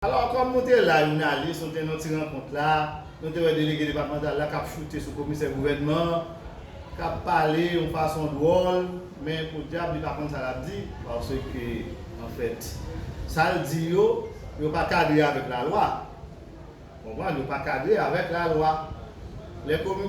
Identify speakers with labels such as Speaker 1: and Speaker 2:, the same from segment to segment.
Speaker 1: Alò, kòm nou te la jounalis, nou te nan ti rankont la, nou te wè delege depatmantal la k ap choute sou komisè gouvènman an, k ap pale yon fason dwòl, men podyab li pa konn sa l ap di, paske anfèt sa l di yo, yo pa kadre avèk lalwa. Ou konprann? Yo pa kadre avèk lalwa. Lè komi.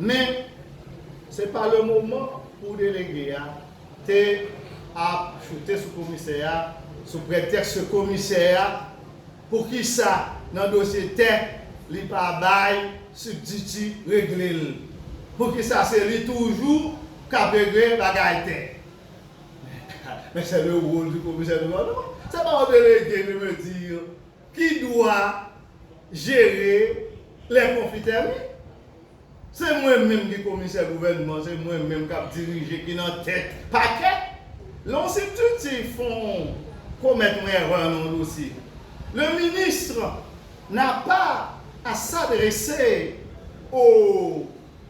Speaker 1: Men, se pa le moman pou delege a te ap choute sou komisè a sou pretèks ke komisè a, poukisa nan dosye tè li pa bay sibtiti regle l? Poukisa se li toujou k ap regle bagay tè? Men, men se le role du commissaire du logement, se pa yon delege de mezi. ki dwa jere lè konfli tèmine se mwen menm ki komisè gouvènman se mwen menm kap dirije ki nan tèt pakè lè yon sibtiti fon komèt yon èrè nan yon dosye le ministre n'a pas à s'adresser au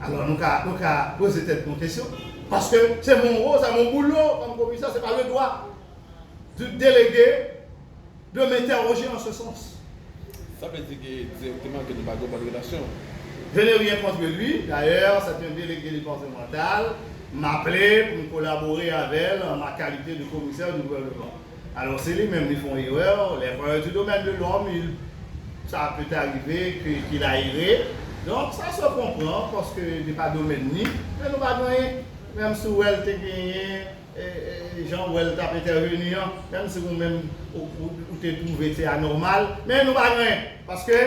Speaker 1: Alò nou ka nou ka poze tèt nou kesyon paske se mon ro sa mon boulo kòm komisè se pa le dwa du delege de m'interroger en ce sens. Sa vle di
Speaker 2: ke direkteman ke nou pa gen yon bòn relasyon? Je n'ai rien
Speaker 1: contre lui, d'ailleurs c'est un délégué départemental, m'aple pou m kolabore avè l an ma kalite de komisè du gouvernement. Alors se li menm li fon erè, les voyous du domaine de l'homme il sa peut arrive que qu'il a erré donc sa se konpran paske li pa domèn ni men nou pa k anyen menm si w wè l te genyen jan w wè l t ap entèveni an menm si ou menm ou te twouve se anòmal men nou pa k anyen paske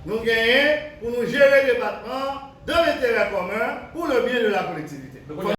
Speaker 1: nou genyen pou nou jere depatman an dan lenterè komen pou le byen de la kolektivite.